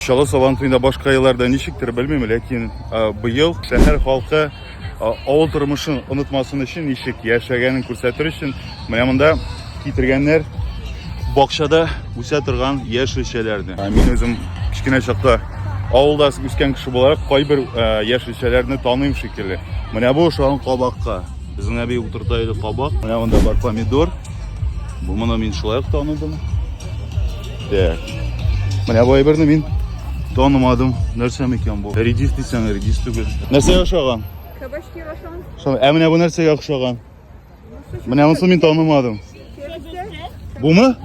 Чаллы Сабантуенда башка елларда ничектер белмим, ләкин быел шәһәр халкы авыл тормышын онытмасын өчен ничек яшәгәнен күрсәтер өчен менә монда китергәннәр бакчада үсә торган яшелчәләрне. Мин үзем кечкенә чакта авылда үскән кеше буларак кайбер яшелчәләрне таныйм шикелле. Менә бу ошаган кабакка. Безнең әби утырта иде кабак. Менә монда бар помидор. Бу моны мин шулай ук таныдым. Так. Менә бу әйберне мин танымадым. Нәрсә микән бу? Редис дисәң, редис түгел. Нәрсә ошаган? Кабачки ошаган. Шул, ә менә бу нәрсәгә ошаган? Менә монысын мин танымадым. Бума?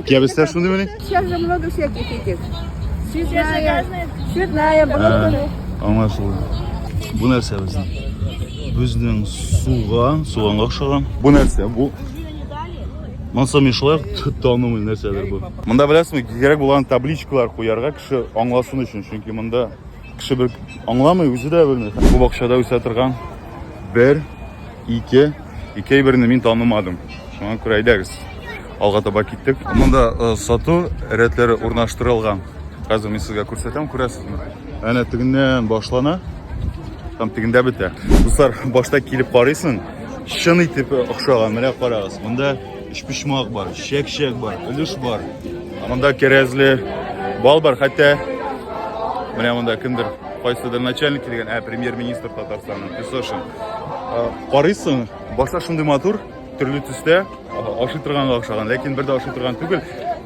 Кебестер шуны мени? Сейчас же много всяких этих. Цветная, цветная, брокколи. Аңлашылды. Бу нәрсә безнең? Безнең суган, суганга охшаган. Бу нәрсә? Бу Монсы мишлар танымый нәрсәдер бу. Монда беләсезме, кирәк булган табличкалар куярга кеше аңласын өчен, чөнки монда кеше бер аңламый, үзе дә белми. Бу бакчада үсә торган бер, ике, ике әйберне мин танымадым. Шуңа күрә әйдәгез. Алга таба киттек. Монда э, сату рәтләре урнаштырылган. Хәзер мин сезгә күрсәтәм, күрәсезме? Әнә тегеннән башлана, там тегендә бетә. Дуслар, башта килеп карыйсың, Чын итеп охшаган. Менә карагыз, монда өчпочмак бар, чәк-чәк бар, өлеш бар. Монда кәрәзле бал бар, хәтта менә монда кемдер кайсыдыр начальник килгән, ә премьер-министр Татарстанның Песошин. Карыйсың, башта шундый матур, төрле төстә ашый торганга охшаган, ләкин бер дә ашый торган түгел.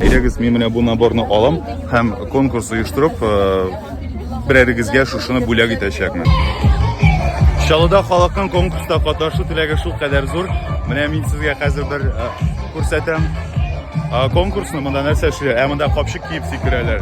Әйдәгез, мин менә бу наборны алам һәм конкурс оештырып, берәрегезгә шушыны бүләк итәчәкмен. Чаллыда халыкның конкурста катнашу теләге шул кадәр зур. Менә мин сезгә хәзер бер күрсәтәм. Конкурсны монда нәрсә эшли? Ә монда капчык киеп сикерәләр.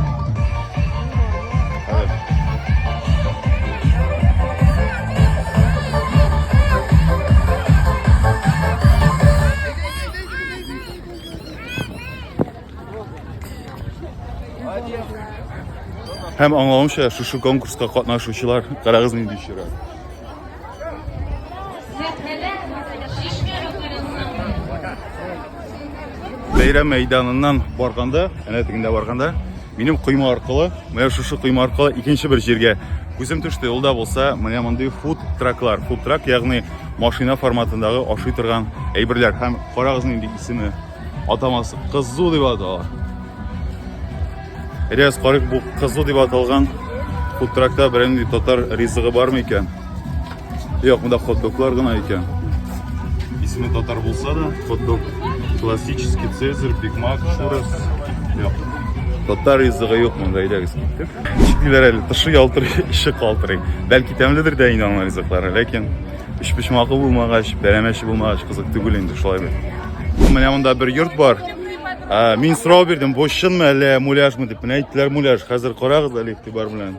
Һәм аңлавымча, шушы конкурска катнашучылар карагыз нинди чират. Бәйрәм мәйданыннан барганда, әнә тегендә барганда, Минем койма аркылы, менә шушы койма аркылы икенче бер җиргә күзем төште. Ул да булса, менә мондый фуд траклар. Фуд трак, ягъни машина форматындагы ашый торган әйберләр. Һәм карагыз нинди исеме, атамасы кызу дип атала. Рәс карык бу кызу дип аталган фуд тракта беренди татар ризыгы бармы икән? Юк, монда хот-доглар гына икән. Исеме татар булса да, хот-дог классический цезарь, бигмак, шурас. Юк. Татар ризыгы юк монда, әйдәгез киттек. Чиклиләр әле, тышы ялтырый, эче калтырый. Бәлки тәмледер дә инде аның ризыклары, ләкин үч почмагы булмагач, бәрәмәче булмагач, кызык түгел инде шулай бит. Менә монда бер йорт бар. Мин сорау бирдем, бу чынмы әллә муляжмы дип. Менә әйттеләр муляж. Хәзер карагыз әле игътибар белән.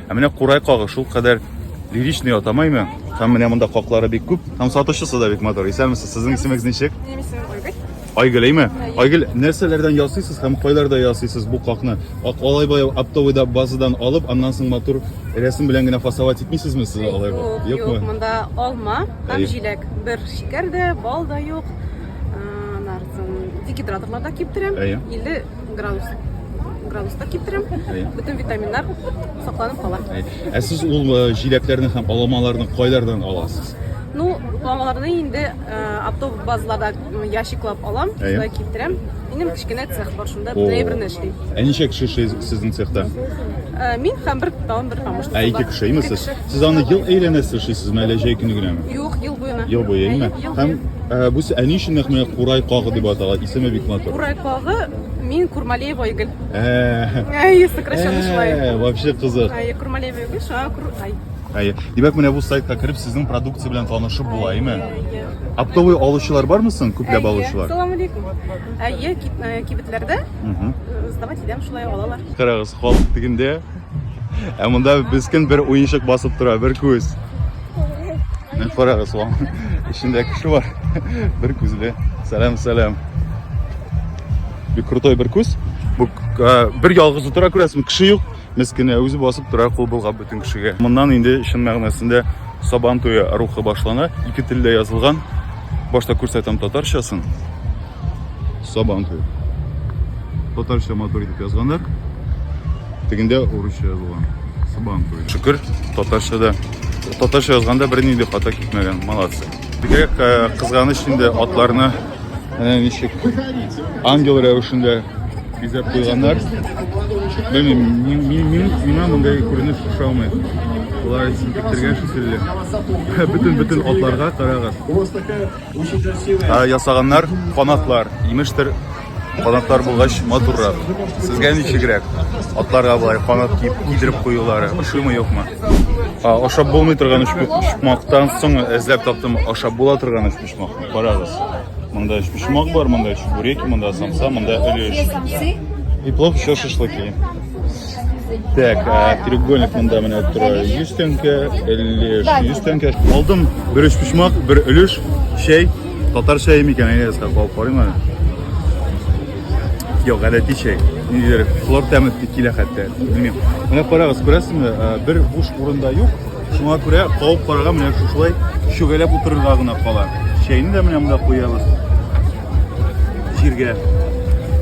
Ә менә курай кагы шул кадәр лиричный атамаймы? Һәм менә монда каклары бик күп. Һәм сатучысы да бик матур. Исәнмесез, сезнең исемегез ничек? Айгөл, әйме? Айгөл, нәрсәләрдән ясыйсыз һәм кайларда ясыйсыз бу какны? Алай бай оптовыйда базадан алып, аннан соң матур рәсем белән генә фасовать итмисезме сез алай бай? Юкмы? Юк, монда алма һәм җиләк. Бер шикәр дә, бал да юк. Декидраторларда киптерәм. Әйе. 50 Градус. Градуста киптерәм. Бөтен витаминнар сакланып кала. Ә сез ул э, җиләкләрне һәм аламаларны кайлардан аласыз? Ну, аламаларны инде э, автобус базларда ящиклап алам, шунда киптерәм. Минем кечкенә цех бар, шунда драйверны эшлим. Ә ничә кеше эшли сезнең цехта? Э, мин һәм бер тагын бер помощник. Ә ике кеше, имесез? Сез аны ел әйләнәсе эшлисезме, әллә җәй көне генәме? Юк, ел буена. Ел буена. Һәм э, бу әни өчен нәкъ менә курай кагы дип атала. Исеме бик матур. Курай кагы мин Курмалеева Игель. Э. Әй, сокращенно шулай. Э, вообще кызык. Әй, Курмалеева Игель, шуңа Кур... Ай. Әй, димәк менә бу сайтка кереп сезнең продукция белән танышып була, әйме? Оптовый алучылар бармы соң, күпләп алучылар? Салам алейкум. Әйе, кибетләрдә сдавать итәм, шулай алалар. Карагыз, халык дигендә Ә монда бескен бер уенчык басып тора, бер күз. Мен карагыз, ваң. Эчендә кеше бар. Бер күзле. Сәлам, сәлам. Бик крутой бер күз. Бу бер ялгызы тора күрәсең, кеше юк. Мескене үзе басып тора, кул булгап бөтен кешегә. Моннан инде чын мәгънәсендә Сабан туе рухы башлана. Ике телдә язылган. Башта күрсәтәм татарчасын. Сабантуй. Татарча матур итеп язганнар. Тегендә урысча язылган. Сабантуй. Шөкер, татарча да. Татарча язганда берни дә хата китмәгән. Молодцы. Бигрәк э, кызганыч инде атларны әнә ничек ангел рәвешендә бизәп куйганнар. Белмим, миңа мондай күренеш ошамый. Алар исем киттергән шикелле. Бөтен-бөтен атларга карагыз. ясаганнар канатлар имештер канатлар булгач матуррак сезгә ничегрәк атларга болай канат киеп кидереп куюлары ошыймы юкмы ашап булмый торган өчпочмактан соң эзләп таптым ашап була торган өчпочмак карагыз монда өчпочмак бар монда чебуреки монда самса монда өлеш и плов еще шашлыки Так, а треугольник мында менә тора 100 тәңкә, өлеш 100 тәңкә. Алдым бер өч почмак, бер өлеш, чәй. Татар чәе микән, әйе, сак алып карыйм әле. Юк, гадәти чәй. Нидер, хлор тәме килә хәтта. Белмим. Менә карагыз, күрәсезме? Бер буш урында юк. Шуңа күрә кауып карарга менә шушылай шөгәләп утырырга гына кала. Чәйне дә менә монда куябыз. Җиргә.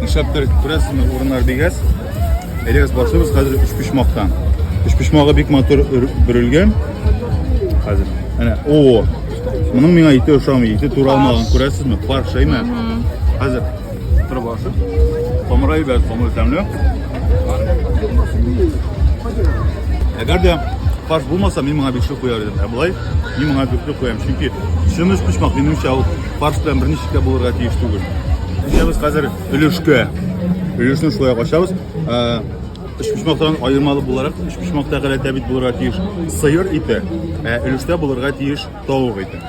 Нишләптер күрәсезме, урыннар бик әз. Элегез басыбыз хәзер өч почмактан. Өч почмагы бик матур бөрелгән. Хәзер. Әнә, о! Моның миңа ите ошамый, ите туралмаган, күрәсезме? Пар шәймә. Хәзер торып алсын. Камыра ибәр, камыр тәмле. Әгәр дә фарш булмаса, мин моңа бишек куяр идем. Ә болай, мин моңа дүртлек куям. Чөнки чын өч почмак, минемчә, ул фарш белән берничек тә булырга тиеш түгел. Ишәбез хәзер өлешкә. Өлешне шулай качабыз. Өчпочмактан аермалы буларак, өчпочмакта галәтә бит булырга тиеш сыер ите, ә өлештә булырга тиеш тавык ите.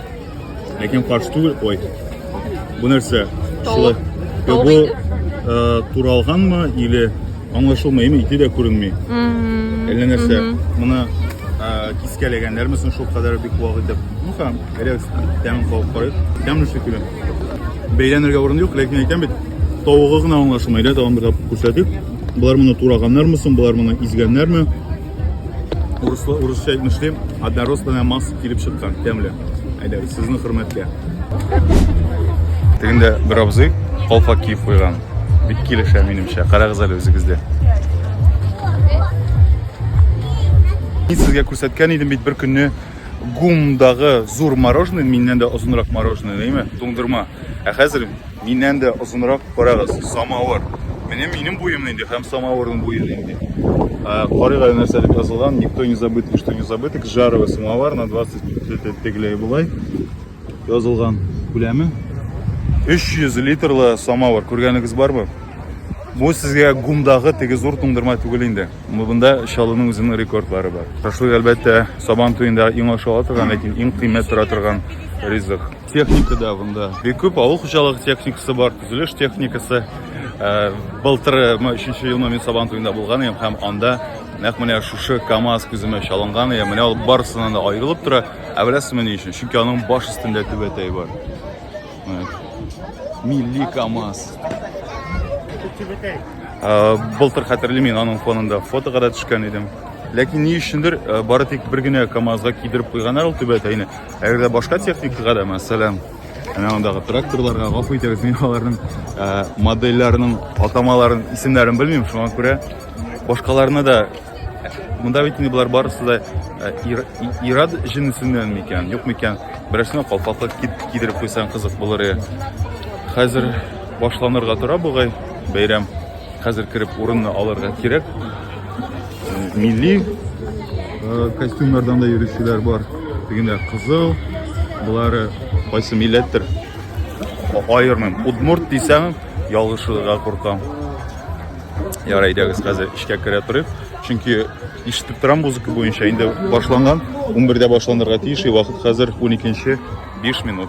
Ләкин фарш түгел, ой. Бу нәрсә? Шулай. Бу туралганмы или Аңлашылмый, ими, ите дә күренми. Әллә нәрсә. Моны кискәләгәннәрме соң шул кадәр бик вак итеп. Ну һәм, эләс, тәмен калып карыйк. Тәмле шикелле. Бәйләнергә урын юк, ләкин әйтәм бит, тавыгы гына аңлашылмый, да, тагын бер тапкыр күрсәтик. Болар моны тураганнармы соң, болар моны изгәннәрме? Урыслы, урысча әйтмешлим, однородственная масса килеп чыккан, тәмле. Әйдәгез, сезнең хөрмәткә. Тегендә бер абзый калфак киеп куйган. Бик килешә минемчә. Карагыз әле үзегездә. Мин сезгә күрсәткән идем бит бер көнне гумдагы зур мороженое, миннән дә озынрак мороженое, дәйме? Туңдырма. Ә хәзер миннән дә озынрак карагыз, самавыр. Менә минем буем нинди һәм самавырның буе нинди. Карыйга нәрсә дип язылган, никто не забыт, что не забыт, к жаровый самовар на 20 тегеләй болай язылган күләме. 300 литрлы самавыр, күргәнегез бармы? Бу сезгә гумдагы теге зур туңдырма түгел инде. Монда чалының үзенең рекордлары бар. Шашлык әлбәттә сабан туенда иң ашала торган, ләкин иң кыйммәт тора торган ризык. техника да бында бик күп авыл хуҗалыгы техникасы бар төзелеш техникасы э, былтыр э, өченче елны мин сабан туенда булган идем һәм анда нәкъ менә шушы камаз күземә чалынган иде менә ул барысыннан да аерылып тора ә беләсезме ни өчен чөнки аның баш өстендә түбәтәй бар милли камаз э, былтыр хәтерлимин аның фонында фотога да төшкән идем ләкин ни өчендер бары тик бер генә камазга кидереп куйганнар ул түбәтәйне Әгәр дә башка техникага да, мәсәлән, менә мондагы тракторларга гафу итегез, мин аларның ә, модельләренең атамаларын, исемнәрен белмим, шуңа күрә башкаларны да Монда бит инде болар барысы да ирад җенесеннән микән, юк микән? Берәрсенә калфаклык кидереп куйсаң кызык булыр иде. Хәзер башланырга тора бугай бәйрәм. Хәзер кереп урынны алырга кирәк. Милли э, костюмнардан да йөрүчеләр бар. Дигәндә кызыл, булары кайсы милләттер? Аермым. Удмурт дисәң, ялгышырга куркам. Яра әйдәгез хәзер эшкә керә торыйк. Чөнки ишетеп торам музыка буенча инде башланган. 11-дә башланырга тиеш, вакыт хәзер 12-5 минут.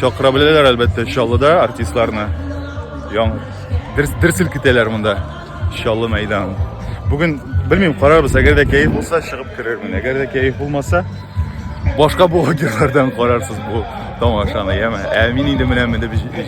Чакыра беләләр, әлбәттә, Чаллыда артистларны. Яң дерсел китәләр монда. Чаллы мәйдан. Бүген белмим, карарбыз, әгәр дә кәеф булса, чыгып керермен. Әгәр дә кәеф булмаса, башка блогерлардан карарсыз бу тамашаны, яме. Ә мин инде менә менеп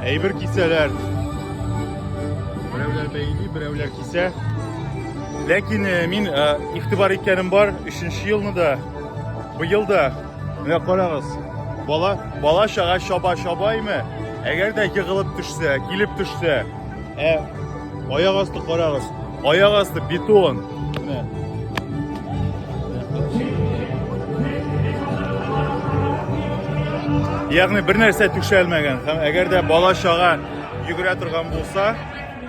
Әйбер кисәләр. Берәүләр бәйли, берәүләр кисә. Ләкин э, мин э, игътибар иткәнем бар, 3нче елны да, быел да. Менә карагыз, бала, бала чага чаба чабаймы? Әгәр дә егылып төшсә, килеп төшсә, ә Аяк асты карагыз. Аяк асты бетон. Менә. Ягъни бер нәрсә түшәлмәгән һәм әгәр дә бала чага йөгерә торган булса,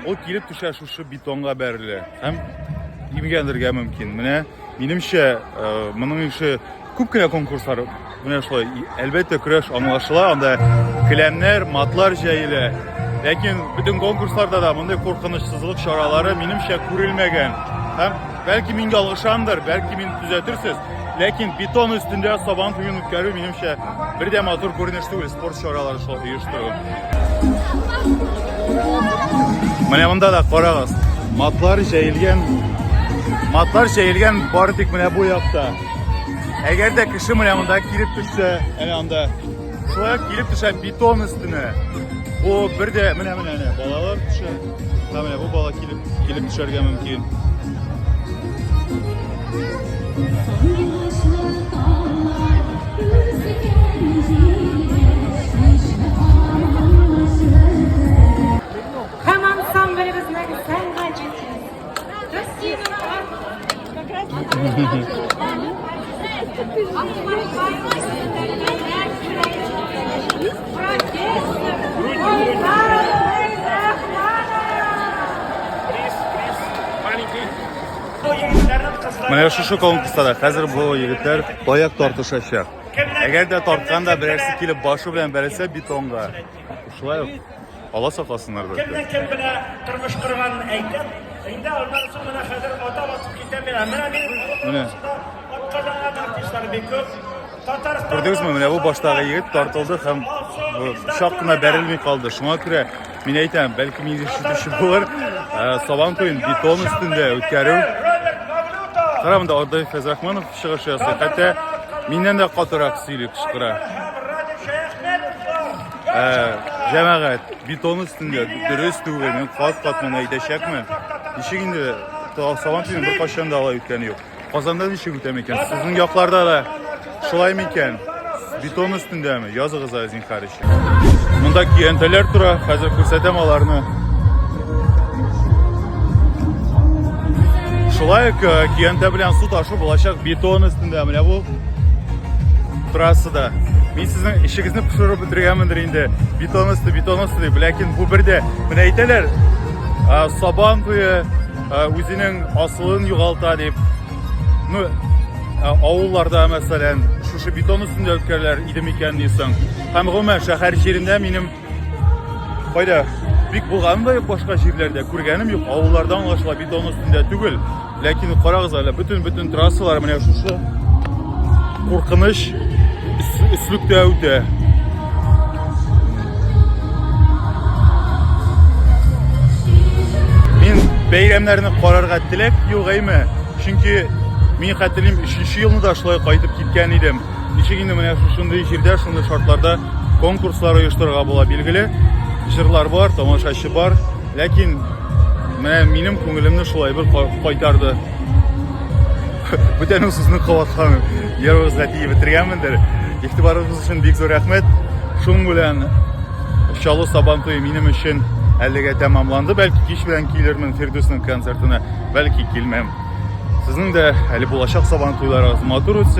ул килеп төшә шушы бетонга бәрелә һәм имгәнергә мөмкин. Менә минемчә, э, моның ише Күп кенә конкурслар менә шулай. Әлбәттә, көрәш аңлашыла, анда келәмнәр, матлар җәелә. Ләкин бөтен конкурсларда да мондый куркынычсызлык чаралары минемчә күрелмәгән. Һәм бәлки мин ялгышамдыр, бәлки мин төзәтерсез. Ләкин бетон өстендә сабан туен үткәрү минемчә бер дә матур күренеш түгел спорт чаралары шулай оештыру. Менә монда да карагыз. Матлар җәелгән. Матлар җәелгән бары тик менә бу якта. Әгәр дә кеше менә монда килеп төшсә, әнә анда. Шулай килеп төшә бетон өстенә. Бу бер дә менә менә әнә балалар төшә. Һәм менә бу бала килеп килеп төшәргә мөмкин. Менә шушы конкурста хәзер бу егетләр таяк тартышачак. Әгәр дә тарткан да берәрсе килеп башы белән бәрелсә бетонга. Шулай ук ала сакласыннар бәлки. Кемне кем белә тормыш корганын әйтеп, инде аннан соң менә хәзер ата басып китә менә. Менә мин менә атказанган артистлар бик күп. Татарстан Күрдегезме, менә бу баштагы егет тартылды һәм чак кына бәрелми калды. Шуңа күрә мин әйтәм, бәлки мин ишетүче булыр. Ә, Сабан туен бетон өстендә үткәрү. Карамында Ордаев Фәзрахманов чыгыш ясый. Хәтта миннән дә катырак сөйли, кычкыра. Ә, җәмәгать, бетон өстендә дөрес түгел, мин кат-кат моны әйтәчәкмен. Ничек инде сабан туен бер кашан да алай үткәне юк. Казанда ничек үтә микән? Сезнең якларда да шулай микән? Бетон өстендәме? Языгыз, Азин Харич. Монда көянтәләр тора, хәзер күрсәтәм аларны. Шулай ук э, көянтә белән су ташу булачак бетон өстендә. Менә бу трассада. Мин сезнең ишегезне пешереп бетергәнмендер инде. Бетон өсте, бетон өсте дип. Ләкин бу бердә. Менә әйтәләр, э, сабан туе э, үзенең асылын югалта дип. Ну, авылларда, мәсәлән, шушы бетон өстендә үткәрәләр иде микән дисең. Һәм гомумән шәһәр җирендә минем кайда бик булганым да юк башка җирләрдә, күргәнем юк. Авылларда аңлашыла бетон өстендә түгел. Ләкин карагыз әле, бөтен-бөтен трассалар менә шушы куркыныч өслектә үтә. Мин бәйрәмнәрне карарга теләк юк әйме. Чөнки мин хәтерлим 3 елны да шулай кайтып киткән идем. Ничек инде менә шундый җирдә, шундый шартларда конкурслар оештырырга була билгеле. Җырлар бар, тамашачы бар. Ләкин менә минем күңелемне шулай бер кайтарды. Бүтән сүзне кабаткан ярыгызга тиеп бетергәнмендер. Игътибарыгыз өчен бик зур рәхмәт. Шуның белән Чаллы Сабан туе минем өчен әлегә тәмамланды. Бәлки кич белән килермен Фирдүснең концертына, бәлки килмәм. Сезнең дә әле булачак Сабан туйларыгыз матур үтсен.